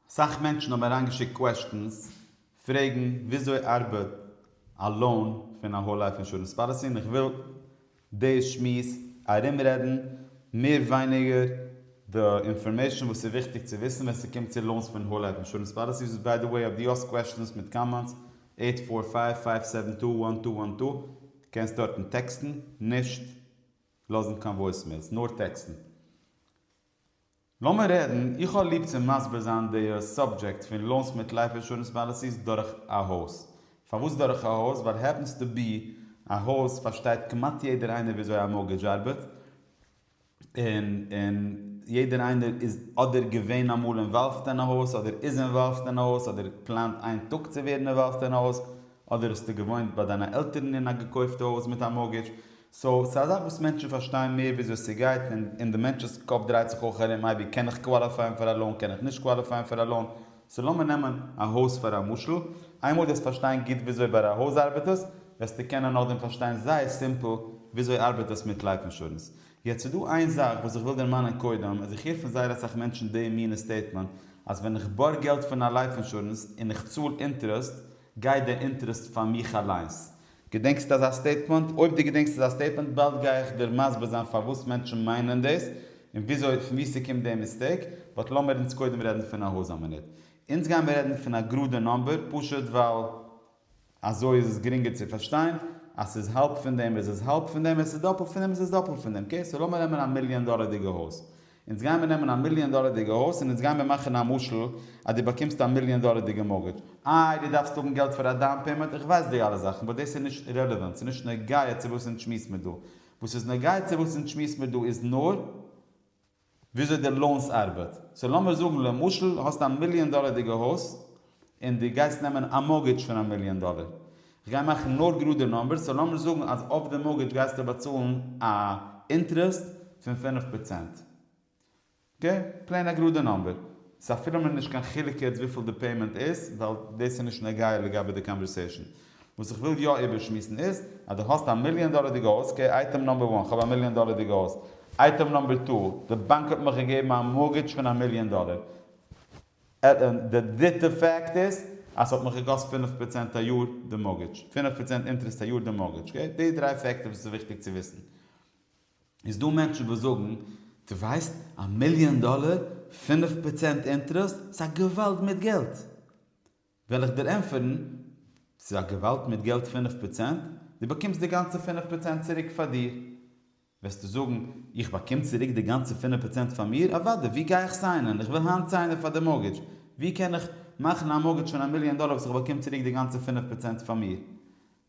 סאך מענטשן האבן אריינגעשיקט קוועסטשענס פרעגן וויאזוי ארבעט א לאון פון א האול לייף אינשורענס פאליסי און איך וויל די שמועס ארומרעדן מער ווייניגער די אינפארמעישן וואס איז וויכטיג צו וויסן ווען ס'קומט צו לאונס פון האול לייף אינשורענס פאליסיס וואס ביי די וועי אויב דו האסט קוועסטשענס מיט קאמענטס עיט פאר פייוו פייוו סעווען טו וואן טו וואן טו קענסט דארטן טעקסטן נישט לאזן קיין וואויסמעילס נאר טעקסטן. לאמיר רעדן, איך האב ליב צו מסביר זיין די סאבדזשעקט פון לאונס מיט לייף אינשורענס פאליסיס דורך א הויז. פארוואס דורך א הויז? ווייל העפענס טו בי, א הויז פארשטייט כמעט יעדער איינער וויאזוי א מארגעדזש ארבעט, און און יעדער איינער איז אדער געווען אמאל אינוואלווד אין א הויז, אדער איז אינוואלווד אין א הויז, אדער פלאנט איין טאג צו ווערן אינוואלווד אין א הויז, אדער האסטו געוואוינט ביי דיינע עלטערן אין א געקויפטע הויז מיט א מארגעדזש. סאו ס'איז א זאך וואס מענטשן פארשטייען מער וויאזוי ס'גייט און און די מענטש'ס קאפ דרייט זיך אויך ארום מייבי קען איך קוואליפייען פאר א לאון קען איך נישט קוואליפייען פאר א לאון סאו לאמיר נעמען א הויז פאר א משל איינמאל דו וועסט פארשטיין גוט וויאזוי ביי א הויז ארבעט עס וועסטו קענען נאכדעם פארשטיין זייער סימפל וויאזוי ארבעט עס מיט לייף אינשורענס יעצט ס'איז דא איין זאך וואס איך וויל דערמאנען קודם איז איך הער פון זייער אסאך מענטשן די מינע סטעיטמענט אז ווען איך בארג געלט פון א לייף אינשורענס און איך צאל אינטערעסט גייט די אינטערעסט פאר מיך אליינס געדענקסט אזא סטעיטמענט? אויב דו געדענקסט אזא סטעיטמענט באלד גיי איך דיר מסביר זיין פארוואס מענטשן מיינען דאס און וויאזוי פון וואו ס'קומט די מיסטעיק, באט לאמיר אונז קודם רעדן פון א הויז א מינוט. אונז גיימיר רעדן פון א גראדע נאמבער פשוט ווייל אזוי איז עס גרינגער צו פארשטיין, אז ס'איז האלב פון דעם איז עס האלב פון דעם, עס איז דאפלט פון דעם איז עס דאפלט פון דעם, אקעי סאו לאמיר נעמען א מיליאן דאלערדיגע הויז, אונז גייען מיר נעמען א מיליאן דאלערדיגע הויז און אונז גייען מיר מאכן א משל אז דו באקומסט א מיליאן דאלערדיגע מארגעדזש, איי דו דארפסט האבן געלט פאר א דאון פעימענט, איך ווייס די אלע זאכן באט דאס איז נישט רעלעווענט, ס'איז נישט נוגע צו וואס אונז שמועס מיר דא, וואס איז נוגע צו וואס אונז שמועס מיר דא איז נאר וויאזוי די לאונס ארבעט, סאו לאמיר זאגן למשל האסט א מיליאן דאלערדיגע הויז און דו גייסט נעמען א מארגעדזש פון א מיליאן דאלער, כ'גיי מאכן נאר גראדע נומבערס, סאו לאמיר זאגן אז אויף די מארגעדזש גייסטו באצאלן א אינטערעסט פון פֿינף פראצענט, אקעי? פלעין א גראדע נומבער, סאו אפילו מ'איז נישט קיין חילוק יעצט וויפיל די פעימענט איז, ווייל דאס איז נישט נוגע לגבי די קאנווערסעישן. וואס איך וויל יא איבערשמועסן איז, אז דו האסט א מיליאן דאלערדיגע הויז, אקעי, אייטעם נומבער וואן, כ'האב א מיליאן דאלערדיגע הויז, אייטעם נומבער טו, די באנק האט מיך געגעבן א מארגעדזש פון א מיליאן דאלער, די דריטע פאקט איז אז ס'האט מיך געקאסט פינף פראצענט א יאר די מארגעדזש, פינף פראצענט אינטערעסט א יאר די מארגעדזש, אקעי? די דריי פעקטער וואס איז וויכטיג צו וויסן. איז דא מענטשן וואס זאגן, דו ווייסט, א מיליאן דאלער, פינף פראצענט אינטערעסט, ס'איז א געוואלד מיט געלט! וועל איך דיר ענטפערן, ס'איז א געוואלד מיט געלט פינף פראצענט, דו באקומסט די גאנצע פינף פראצענט צוריק פאר דיר, וועסטו זאגן, איך באקום צוריק די גאנצע פינף פראצענט פאר מיר? אוודאי, ווי גיי איך סיינען? איך וויל היינט סיינען פאר די מארגעדזש. ווי קען איך מאכן א מארגעדזש פון א מיליאן דאלער וואס איך באקום צוריק די גאנצע פינף פראצענט פאר מיר?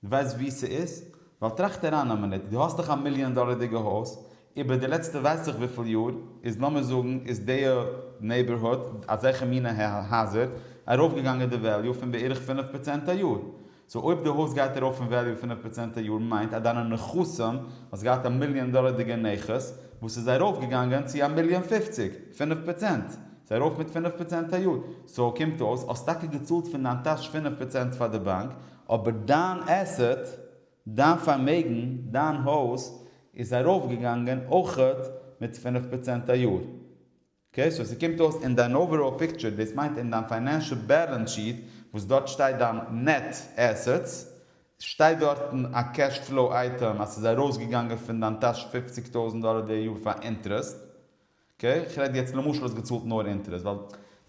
דו ווייסט ווי ס'איז? ווייל טראכט אריין א מינוט, דו האסט דאך א מיליאן דאלערדיגע הויז, איבער די לעצטע ווייס איך וויפיל יאר איז לאמיר זאגן איז דיע נעיבערהוד, אזעלכע מינע הייזער, ארויפגעגאנגען די וועליו פון בערך פינף פראצענט א יאר. סאו אויב די הויז גייט ארויף אין וועליו פֿינף פראצענט א יאר מיינט אז דיינע נכסים, האסט געהאט א מיליאן דאלערדיגע נכס וואס איז ארויף געגאנגען צו א מיליאן פֿופֿציק, פֿינף פראצענט, סאיז ארויף מיט פֿינף פראצענט א יאר, סאו קומט אויס האסט טאקע געצאלט פון דיין טאש פֿינף פראצענט פאר די באנק, אבער דיין עסעט, דיין פארמעגן, דיין הויז, איז ארויף געגאנגען אויכעט מיט פֿינף פראצענט א יאר, אקעי סאו ס'קומט אויס אין דיין אוועראל פיקטשער, דאס מיינט אין דיין פיינענשעל בעלענס שיט וואס דארט שטייט דיין נעט עסעטס, שטייט דארטן א קעש פלאו אייטעם אז ס'איז ארויסגעגאנגען פון דיין טאש פֿופֿציק טויזנט דאלער די יאר פאר אינטערעסט, אקעי, כ'רעד יעצט למשל האסט געצאלט נאר אינטערעסט, ווייל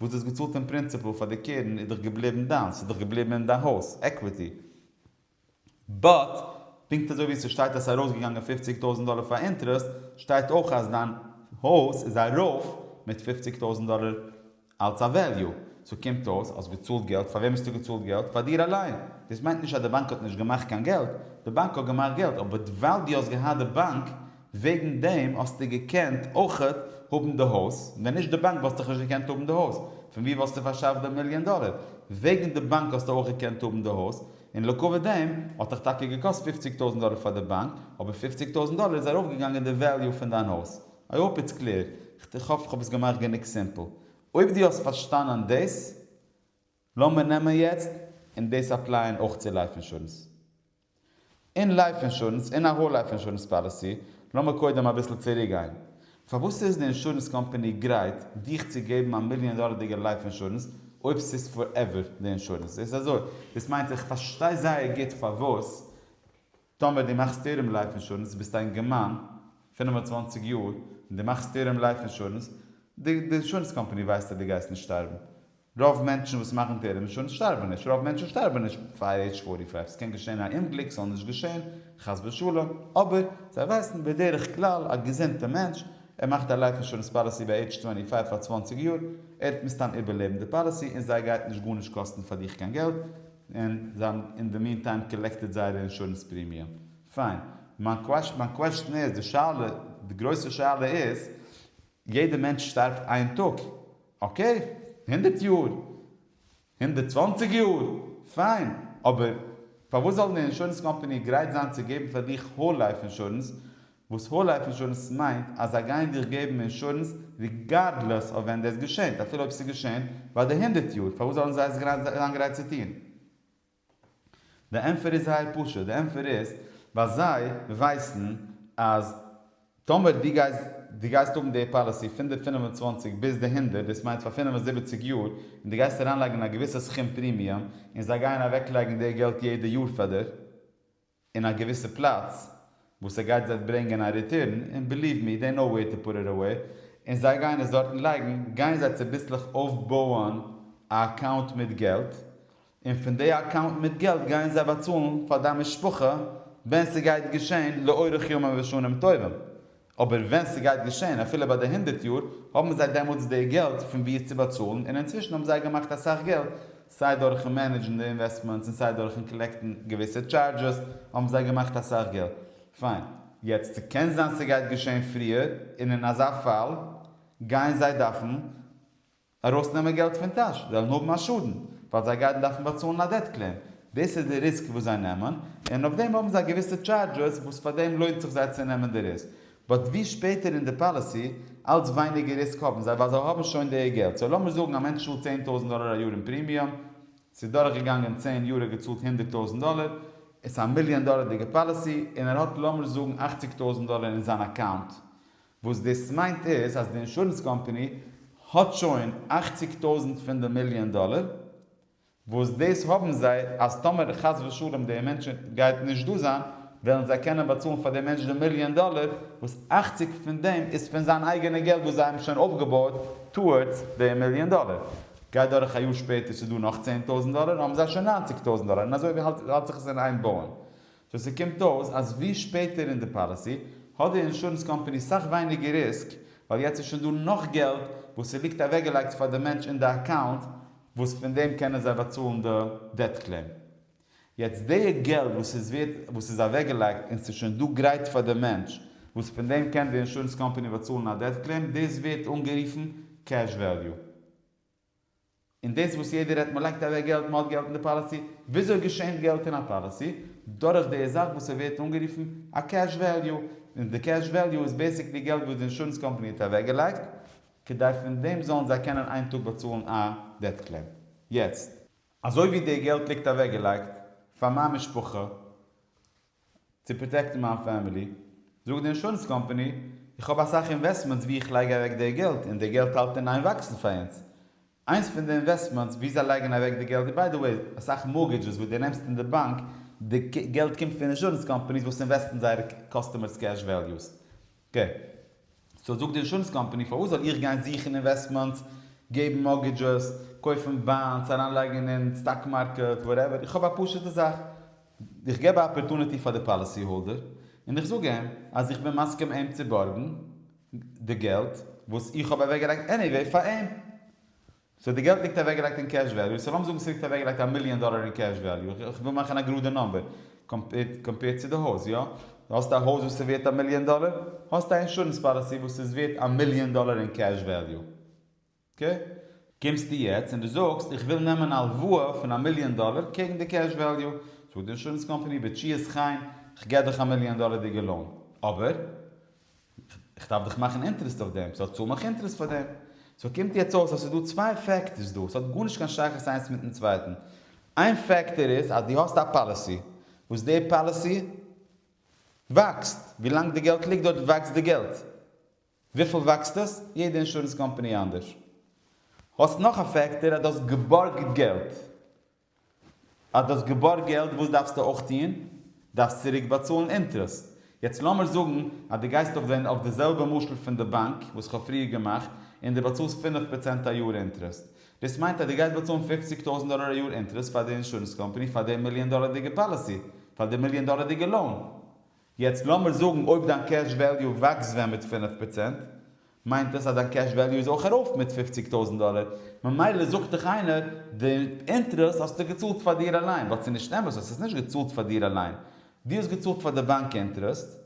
וואס דו האסט געצאלט אין פרינציפעל פאר די קרן איז דאך געבליבן דיינס, ס'איז דאך געבליבן אין דיין הויז, עקוויטי. באט פונקט אזוי ווי ס'שטייט אז ס'איז ארויסגעגאנגען פופציג טויזענט דאלער פאר אינטערעסט, שטייט אויך אז דיין הויז איז ארויף מיט פופציג טויזענט דאלער אלץ א וועליו. סאו קומט אויס אז געצאלט געלט, פאר וועם האסטו געצאלט געלט? פאר דיר אליין. דאס מיינט נישט אז די באנק האט נישט געמאכט קיין געלט, די באנק האט געמאכט געלט, אבער ווייל דו האסט געהאט די באנק, וועגן דעם האסטו געקענט אויכעט האבן די הויז, ווען נישט די באנק וואלסטוך נישט געקענט האבן די הויז, פון ווי וואלסטו פארשאפט די מיליאן דאלער? וועגן די באנק האסטו אויך געקענט האבן די הויז, און לעקאווע דעם האטעך טאקע געקאסט פופציג טויזנט דאלער פאר די באנק, אבער פופציג טויזנט דאלער איז ארויף געגאנגען די וועליו פון דיין הויז. איי האופ איטס קלער, איך האף כ'האב עס געמאכט גענוג סימפל. אויב דו האסט פארשטאנען דאס, לאמיר נעמען יעצט און דאס אפלייען אויך צו לייף אינשורענס. אין לייף אינשורענס אין א האול לייף אינשורענס פאליסי, לאמיר קודם אביסל צוריק גיין. פארוואס איז די אינשורענס קאמפאני גרייט דיך צו געבן א מיליאן דאלערדיגע לייף אינשורענס אויב ס'איז פארעווער די אינשורענס? זעהסט אזוי? דאס מיינט איך פארשטיי זייער גוט פארוואס טאמער די מאכסט טערם לייף אינשורענס ביסט א אינגערמאן פֿינף און צוואַנציק יאר און די מאכסט טערם לייף אינשורענס די אינשורענס קאמפאני ווייסט אז די גייסט נישט שטארבן רוב מענטשן וואס מאכן טערעמישאן שטארבן נישט, רוב מענטשן שטארבן נישט פאר עידזש פארטי פייוו, ס'קען געשען א אומגליק, ס'זאל נישט געשען, חס ושלום, אבער זיי ווייסן בדרך כלל א געזונטע מענטש, ער מאכט א לייף אינשורענס פאליסי ביי עידזש טווענטי פייוו פאר צוואנציג יאר, ער וועט מסתם איבערלעבן די פאליסי און זיי גייט נישט גארנישט קאסטן פאר דיך קיין געלט, און זיי האבן אין די מין טיים קאלעקטעד זייערע אינשורענס פרימיום. פיין. מיין קוועשטען איז, די שאלה, די גרויסע שאלה איז, יעדע מענטש שטארבט איין טאג, אקעי, הונדערט יאר, הונדערט צוואנציג יאר, פיין, אבער פארוואס זאל די אינשורענס קאמפאני גרייט זיין צו געבן פאר דיך האול לייף אינשורענס, וואס האול לייף אינשורענס מיינט אז זיי גייען דיך געבן אינשורענס ריגארדלעס אויף ווען דאס געשעהט, אפילו אויב ס'איז געשעהן ביי די הונדערט יאר, פארוואס זאלן זיי עס גרייט זיין גרייט צו טוהן? די ענטפער איז זייער פשוט, די ענטפער איז ווייל זיי ווייסן אז טאמער דו גייסט דו גייסט האבן די פאליסי פון די פֿינף און צוואַנציק ביז די הונדערט, דאס מיינט פאר פֿינף און זיבעציק יאר, און דו גייסט אריינלייגן א געוויסע סכום פרימיום, און זיי גייען אוועקלייגן די געלט יעדע יאר פאר דיר. אין א געוויסע פלאץ וואס ער גייט וועט ברענגען א ריטורן, און ביליוו מי, דעי נאו וועיר טו פוט איט אוועי, און זיי גייען עס דארטן לייגן, גייען זיי צוביסלעך אויפבויען א אקאונט מיט געלט, און פון דעי אקאונט מיט געלט גייען זיי באצאלן פאר דיין משפחה ווען ס'גייט געשען לאורך ימים ושנים טובים, אבער ווען ס'גייט געשען אפילו ביי די הונדערט יאר, האבן זיי דעמאלטס די געלט פון וואו עס צו באצאלן, און אינצווישן האבן זיי געמאכט אסאך געלט, סיי דורכן מענעדזשן די אינוועסטמענטס און סיי דורכן קאלעקטן געוויסע טשארדזשעס, האבן זיי געמאכט אסאך געלט. פיין. יעצט ס'קען זיין ס'גייט געשען פריער, און אין אזא פאל גייען זיי דארפן ארויסנעמען געלט פון טאש, זיי וועלן האבן א שאדן, ווייל זיי גייטן דארפן באצאלן א דעט קלעם, דאס איז די ריסק וואס זיי נעמען, און אויף דעם האבן זיי געוויסע טשארדזשעס וואס פאר דעם לוינט זיך זיי צו נעמען די ריסק, באט ווי שפעטער אין די פאליסי, אלץ ווייניגער ריסק האבן זיי, ווייל זיי האבן שוין די געלט, סאו לאמיר זאגן א מענטש צאלט צען טויזנט דאלער א יאר אין פרימיום, ס'איז דורך געגאנגען צען יאר ער האט געצאלט הונדערט טויזנט דאלער, עס איז א מיליאן דאלערדיגע פאליסי, און ער האט לאמיר זאגן אכציג טויזנט דאלער אין זיין אקאונט, וואס דאס מיינט איז אז די אינשורענס קאמפאני האט שוין אַכציק טויזנט פון די מיליאן דאלער, וואס דאס האבן זיי אז טאמער חס ושלום די מענטש גייט נישט דא זיין, וועלן זיי קענען באצאלן פאר די מענטש די מיליאן דאלער, וואס אַכציק פון דעם איז פון זיין אייגענע געלט וואס זיי האבן שוין אויפגעבויעט טאוארדס די מיליאן דאלער. גייט דורך א יאר שפעטער ס'איז דא נאך צען טויזנט דאלער האבן זיי שוין נײַנציק טויזנט דאלער און אזוי האלט זיך עס אין איין בויען סאו ס'קומט אויס אז ווי שפעטער אין די פאליסי האט די אינשורענס קאמפאני סאך ווייניגער ריסק ווייל יעצט איז שוין דא נאך געלט וואס ס'ליגט אוועקגעלייגט פאר די מענטש אין די אקאונט וואס פון דעם קענען זיי באצאלן די דעט קלעים. יעצט די געלט וואס איז ווערט וואס איז אוועקגעלייגט און ס'איז שוין דא גרייט פאר די מענטש וואס פון דעם קען די אינשורענס קאמפאני באצאלן א דעט קלעים דאס ווערט אנגערופן קעש וועליו. און דאס וואס יעדער רעדט מ'לייגט אוועק געלט, מ'האט געלט אין די פאליסי, וויאזוי געשענט געלט אין א פאליסי? דורך די זאך וואס ס'ווערט אנגערופן א קעש וועליו, און די קעש וועליו איז בעיסיקלי געלט וואס די אינשורענס קאמפאני האט אוועק געלייגט, כדי פון דעם זאלן זיי קענען איין טאג באצאלן א דעט קלעם. יעצט. אזוי ווי די געלט ליגט אוועק געלייגט פאר מיין משפחה, צו פראטעקטן מיין פעמילי זאגט די אינשורענס קאמפאני איך האב אסאך אינוועסטמענטס ווי איך לייג אוועק די געלט און די געלט האלט אין איין וואקסן פאר אונז. איינס פון די אינוועסטמענטס ווי זיי לייגן אוועק די געלט איז ביי די וועי אסאך מארגעדזשעס וואס די נעמסט אין די באנק די געלט קומט פון אינשורענס קאמפאניס וואס אינוועסטן זייערע קאסטומערס קעש וועליוס ג. סאו זאגט די אינשורענס קאמפאני פארוואס זאל איך גיין זוכן אינוועסטמענטס, געבן מארטגעדזשעס, קויפן באנדס, אריינלייגן אין סטאק מארקעט, וואטעווער, איך האב א פשוטע זאך, איך געב א אפערטוניטי פאר די פאליסי האלדער און איך זאג אים אז איך בין מסכים אים צו בארגן די געלט וואס איך האב אוועקגעלייגט עניוועי פאר אים. סאו די געלט ליגט אוועקגעלייגט אין קעש וועליו, סאו לאמיר זאגן ס'ליגט אוועקגעלייגט א מיליאן דאלער אין קעש וועליו, איך וויל מאכן א גראדע נומבער, קאמפעירד צו די הויז, יא? דו האסט א הויז וואס איז ווערט א מיליאן דאלער, האסט א אינשורענס פאליסי וואס איז ווערט א מיליאן דאלער אין קעש וועליו. אקעי? קומסטו יעצט און דו זאגסט, איך וויל נעמען א הלוואה פון א מיליאן דאלער קעגן די קעש וועליו, זאגט די אינשורענס קאמפאני, בתשיעס חיים, כ'געב דיך א מיליאן דאלער'דיגע לאון. אבער, איך דארף דאך מאכן אינטערעסט אויף דעם, סאו צאל מיך אינטערעסט פאר דעם. סאו קומט יעצט אויס אז ס'איז דא צוויי פעקטארס דא, ס'האט גארנישט קיין שייכות איינס מיטן צווייטן. איין פעקטאר איז אז דו האסט א פאליסי, וואס די פאליסי וואקסט, ווילאנג די געלט ליגט דארט וואקסט די געלט. וויפיל וואקסט עס? יעדע אינשורענס קאמפאני אנדערש. האסט נאך א פעקטאר אז דו האסט געבארגט געלט. אז דו האסט געבארגט געלט וואס דארפסטו אויך טון? דארפסט צוריק באצאלן אינטרעסט. יעצט לאמיר זאגן אז דו גייסט אויף זען אויף די זעלבע משל פון די באנק וואס כ'האב פריער געמאכט און דו באצאלסט פֿינף פראצענט א יאר אינטרעסט. דאס מיינט אז דו גייסט באצאלן פֿופֿציק טויזנט דאלער א יאר אינטרעסט פאר די אינשורענס קאמפאני פאר די מיליאן דאלערדיגע פאליסי, פאר די מיליאן דאלערדיגע לאון. יעצט לאמיר זאגן אויב דיין קעש וועליו וואקסט ווען מיט פֿינף פראצענט, מיינט דאס אז דיין קעש וועליו איז אויך ארויף מיט פופציג טויזנט דאלער, ממילא זאגט דיך איינער די אינטערעסט האסטו געצאלט פאר דיר אליין, וואס איז נישט אמת, האסט עס נישט געצאלט פאר דיר אליין, דו האסט געצאלט פאר די באנק אינטערעסט,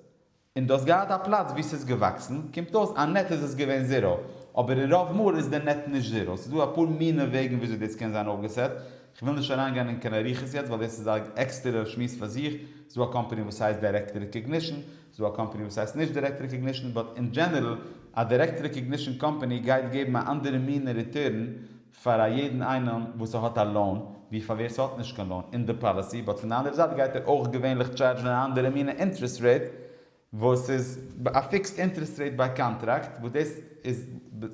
און דו האסט געהאט א פלאץ וואו ס'איז געוואקסן, קומט אויס אז נעט איז עס געווען זיראו, אבער אין רוב מאל איז די נעט נישט זיראו, ס'איז דא אפאר מינע וועגן וויאזוי דאס קען זיין אויפגעסעט, כ'וויל נישט אריינגיין אין קיין אריכות יעצט ווייל דאס איז א עקסטערער שמועס פאר זיך, ס'דא א קאמפאני וואס הייסט דיירעקט רעקאגנישן, ס'דא א קאמפאני וואס הייסט נישט דיירעקט רעקאגנישן, באט אין דזשענערל א דיירעקט רעקאגנישן קאמפאני גייט געבן א אנדערע מינע ריטורן פאר א יעדן איינעם וואס ס'האט א לאון ווי פאר ווער ס'האט נישט קיין לאון אין די פאליסי, באט פון די אנדערע זייט גייט ער אויך געווענליך טשארדזשן אן אנדערע מינע אינטרעסט רעיט וואס איז א פיקסד אינטערעסט רעיט ביי קאנטראקט, וואס דאס איז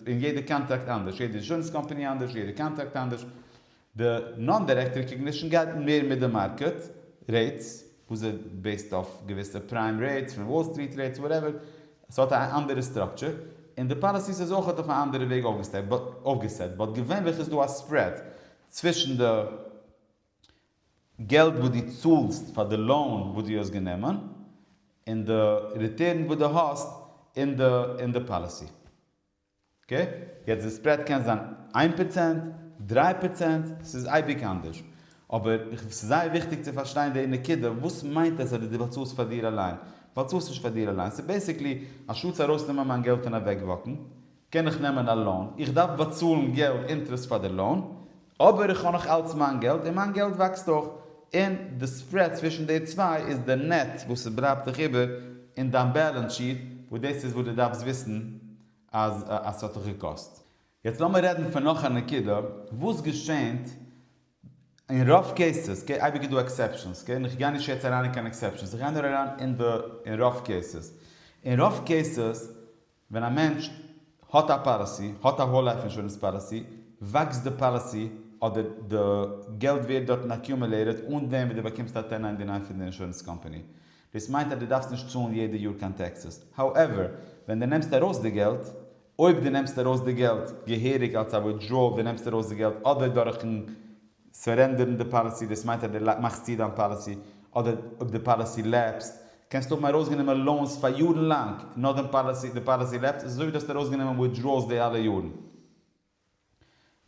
אין יעדע קאנטראקט אנדערש, יעדע אינשורענס קאמפאני אנדערש, יעדע קאנטראקט אנדערש, די נאן דירעקט רעקאגנישן גייט מער מיט די מארקעט רעיטס, וואס איז בעיסד אויף געוויסע פריים רעיטס פון וואל סטריט רעיטס וואטעווער, עס האט א אנדערע סטראקטשער, און די פאליסיס איז אויך אויף א אנדערע וועג אויפגעסעט, באט געווענליך איז דא א ספרעד צווישן די. געלט וואס דו צאלסט פאר די לאון וואס דו האסט גענומען, און די ריטערן וואס דו האסט אין די אין די פאליסי. אקעי? יעצט די ספרעד קען זיין איין פראצענט, דריי פראצענט, ס'איז אייביג אנדערש. אבער ס'איז זייער וויכטיג צו פארשטיין די נקודה, וואס מיינט עס אז דו באצאלסט פאר דיר אליין? באצאלסט נישט פאר דיר אליין. ס'איז בעיסיקלי, אנשטאטס ארויסנעמען מיין געלט און אוועקוואקן, קען איך נעמען א לאון? איך דארף באצאלן געלט אינטרעסט פאר די לאון, אבער איך האב נאך אלץ מיין געלט און מיין געלט וואקסט אויך, און די ספרעד צווישן די צוויי איז די נעט וואס עס בלייבט דיך איבער אין דיין בעלענס שיעט, וואס דאס איז וואס דו דארפסט וויסן אז אז ס'האט דיך געקאסט. יעצט לאמיר רעדן פון נאך א נקודה, וואס געשענט אין רוב קעיסעס, אקעי אייביג איז דא עקסעפשאנס, אקעי, און איך גיי נישט יעצט אריין אין קיין עקסעפשאנס, איך גיי נאר אריין אין די אין רוב קעיסעס, אין רוב קעיסעס ווען א מענטש האט א פאליסי, האט א האול לייף אינשורענס פאליסי, וואקסט די פאליסי אדער די געלט ווערט דארטן אקיומעלעיטעד אן דעם וואס דו באקומסט א טען ניינטי ניין פון די אינשורענס קאמפאני. דאס מיינט אז דו דארפסט נישט צאלן יעדע יאר קיין טעקסעס. האועווער, ווען דו נעמסט ארויס די געלט, אויב דו נעמסט ארויס די געלט געהעריג אלס א וויטדראעל, דו נעמסט ארויס די געלט אדער דורכ'ן סורענדערן די פאליסי, דאס מיינט אז די מאכסט צו דיין פאליסי, אדער אויב די פאליסי לעפסט, קענסטו האבן ארויסגענומען לאונס פאר יארן לאנג, נאכדעם פאליסי די פאליסי לעפט, איז אזויווי דו האסט ארויסגענומען וויטדראלס די אלע יארן.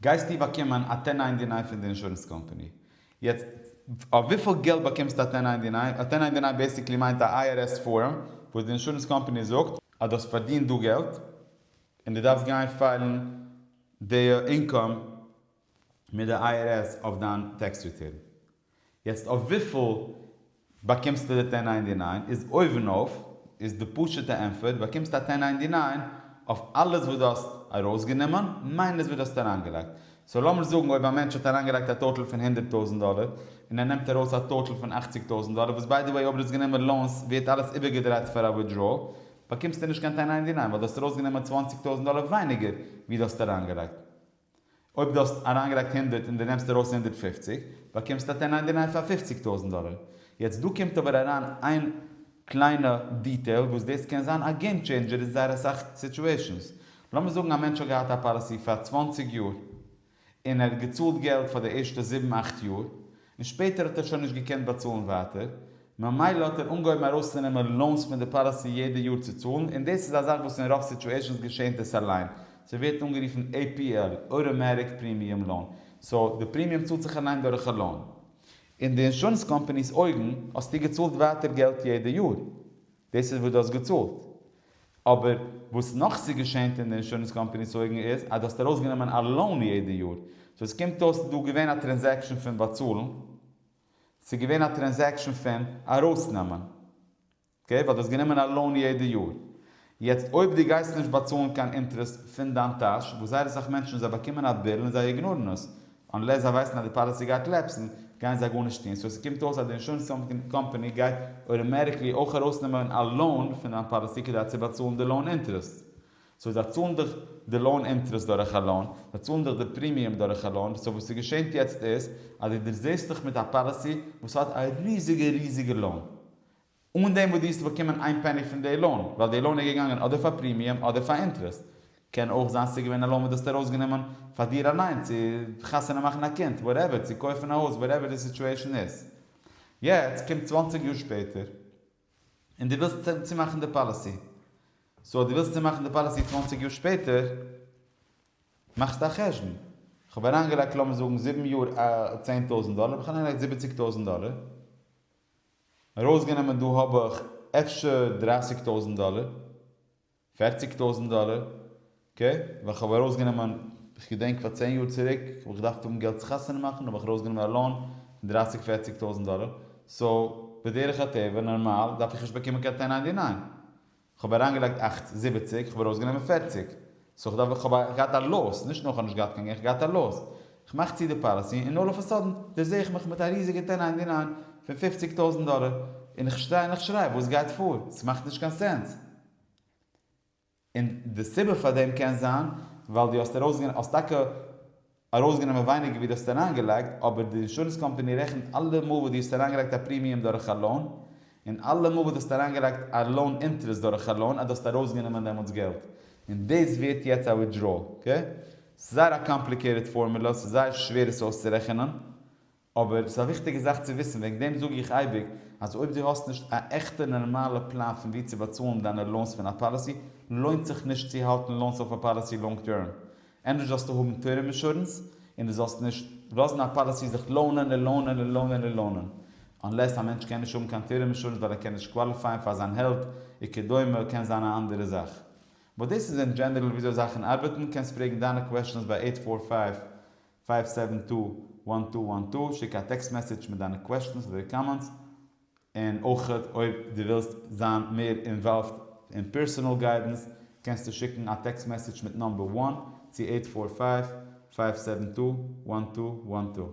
גייסטו באקומען א טען ניינטי ניין פון די אינשורענס קאמפאני. יעצט, אויף וויפיל געלט באקומסטו א טען ניינטי ניין? א טען ניינטי ניין בעיסיקלי מיינט א IRS פארם, וואס די אינשורענס קאמפאני זאגט אז דו האסט פארדינט דא געלט, און דו דארפסט גיין פיילן די אינקאם מיט די איי אר עס אויף דיין טעקס ריטורן. יעצט אויף וויפיל באקומסטו די טען ניינטי ניין איז אויבן אויף איז די פשוטע ענפער די באקומסט א טען ניינטי ניין אויף אלעס וואס דו האסט ארויסגענומען מיינוס וואס דו האסט אריינגעלייגט. סאו לאמיר זאגן אויב א מענטש האט אריינגעלייגט א טאטעל פון הונדערט טויזענט דאלער און ער נעמט ארויס א טאטעל פון אכציג טויזענט דאלער וואס ביי די וועי אויב דו האסט גענומען לאונס ווערט אלעס איבערגעדרייט פאר א ווידראעל באקומסטו נישט קיין טען ניינטי ניין ווייל דו האסט ארויסגענומען צוואנציג טויזענט דאלער ווייניגער ווי דו האסט אריינגעלייגט. אויב דו האסט אריינגעלייגט הונדערט און דו נעמסט ארויס הונדערט פֿופֿציק, באקומסטו א טענה'יי דיניי פאר פופציג טויזנט דאלער. יעצט דא קומט אבער אריין איין קליינע דיטעיל וואס דאס קען זיין א געים טשעינדזשער אין זייער אסאך סיטועשענס. לאמיר זאגן א מענטש האט געהאט א פאליסי פאר צוואַנציק יאר, און ער האט געצאלט געלט פאר די ערשטע זיבן אכט יאר, און שפעטער האט ער שוין נישט געקענט באצאלן ווייטער, ממילא האט ער אנגעהויבן ארויסצונעמען לאונס פון די פאליסי יעדע יאר צו צאלן, און דאס איז א זאך וואס אין רוב סיטואשענס געשענט עס אליין, ס'ווערט אנגערופן APL, אויטאמעטיק פרימיום לאון, סאו די פרימיום צאלט זיך אליין דורך א לאון. אין די אינשורענס קאמפעני'ס אויגן האסטו געצאלט ווייטער געלט יעדע יאר, דאס איז וואס דו האסט געצאלט, אבער וואס נאך ס'געשענט אין די אינשורענס קאמפעני'ס אויגן איז אז דו האסט ארויסגענומען א לאון יעדע יאר, סאו עס קומט אויס ס'דא געווען א טרענזעקשאן פון באצאלן. ס'איז געווען א טרענזעקשאן פון ארויסנעמען, אקעי, ווייל דו האסט גענומען א לאון יעדע יאר, יעצט אויב דו גייסט נישט באצאלן קיין אינטערעסט פון דיין טאש, וואס זייער אסאך מענטשן זיי באקומען א ביל און זיי איגנארן עס, אנלעס זיי ווייסן אז די פאליסי גייט לעפסן, גייען זיי גארנישט טון, סאו ס'קומט אויס אז די אינשורענס קאמפאני גייט אויטאמעטיקלי אויך ארויסנעמען א לאון פון דיין פאליסי כדי צו באצאלן די לאון אינטערעסט, סאו זיי צאלן דיך די לאון אינטערעסט דורך א לאון, זיי צאלן דיך די פרימיום דורך א לאון, סאו וואס איז געשענט יעצט איז אז דו דערזעסט דיך מיט א פאליסי וואס האט א ריזיגע ריזיגע לאון, אן דעם וואס דו האסט באקומען איין פעני פון די לאון, ווייל די לאון איז געגאנגען אדער פאר פרימיום אדער פאר אינטערעסט, קען אויך זיין ס'איז געווען א לאון וואס דו האסט ארויסגענומען פאר דיר אליין, צו חתונה מאכן א קינד, וואטעווער, צו קויפן א הויז, וואטעווער די סיטועשן איז. יעצט קומט צוואַנציק יאר שפעטער. און דו ווילסט צומאכן די פאליסי. סאו אז דו ווילסט צומאכן די פאליסי צוואַנציק יאר שפעטער, מאכסטו א חשבון, כ'האב אריינגעלייגט לאמיר זאגן זיבן יאר צען טויזנט דאלער, האב איך אריינגעלייגט זיבעציק טויזנט דאלער, ארויסגענומען דא האב איך אפשר דרייסיג טויזנט דאלער, פערציג טויזענט דאלער, קע, ווען כ'האב ארויס גענומען, כ'געדענק פאר צען יאר צוריק, האב איך געדארפט האבן געלט צו חתונה מאכן, האב איך ארויס גענומען א לאון פון דרייסיג פערציג טויזענט דאלער, סאו, בדרך הטבע, נארמאל, דארף איך נישט באקומען קיין טען ניינטי ניין. כ'האב אריין געלייגט אכט זיבעציג, כ'האב ארויס גענומען פערציג, סאו כ'דארף ווען כ'האב געהאט א לאוס, נישט נאר כ'האב נישט געהאט קיין געלט, כ'האב געהאט א לאוס, כ'מאך צו די פאליסי, און אלל אף א סאדען, דערזעה איך מיך מיט א ריזיגע טען ניינטי ניין פון פופציג טויזענט דאלער, און כ'שטיי און כ'שריי וואס גייט פאר? ס'מאכט נישט קיין סענס. און די סיבה פאר דעם קען זיין ווייל דו האסט ארויסגענומען, האסט טאקע ארויסגענומען ווייניגער ווי דו האסט אריינגעלייגט, אבער די אינשורענס קאמפאני רעכנט אלע מאל וואס דו האסט אריינגעלייגט א פרימיום דורך א לאון, און אלע מאל וואס דו האסט אריינגעלייגט א לאון אינטערעסט דורך א לאון אז דו האסט ארויסגענומען דעמאלטס געלט, און דאס ווערט יעצט א וויטדראול. אקעי? ס'איז זייער א קאמפליקעיטעד פארמולא, ס'איז זייער שווער עס אויסצורעכענען, אבער ס'איז א וויכטיגע זאך צו וויסן, וועגן דעם זאג איך אייביג אז אויב דו האסט נישט א עכטע נארמאלע פלאן פון ווי צו באצאלן דיינע לאונס פון א פאליסי, לוינט זיך נישט צו האלטן לאונס אויף א פאליסי לאנג טערם. ענדערש זאלסטו האבן טערם אינשורענס, און דו זאלסט נישט לאזן א פאליסי זיך לאונען און לאונען און לאונען און לאונען. אנלעס א מענטש קען נישט האבן קיין טערם אינשורענס ווייל ער קען נישט קוואליפייען פאר זיין העלט וכדומה קען זיין א אנדערע זאך. באט דאס איז אין דזשענערל וויאזוי זאכן ארבעטן, קענסט פרעגן דיינע קוועשטענס ביי עיט פאר פייוו פייוו סעווען טו וואן טו וואן טו, שיק א טעקסט מעסעדזש מיט דיינע קוועשטענס אדער קאמענטס, און אויך אויב דו ווילסט זיין מער אינוואלווד אין פערסאנעל גיידענס קענסטו שיקן א טעקסט מעסעדזש מיט נאמבער וואן צו אייט פאר פייוו, פייוו סעווען טו וואן טו וואן טו.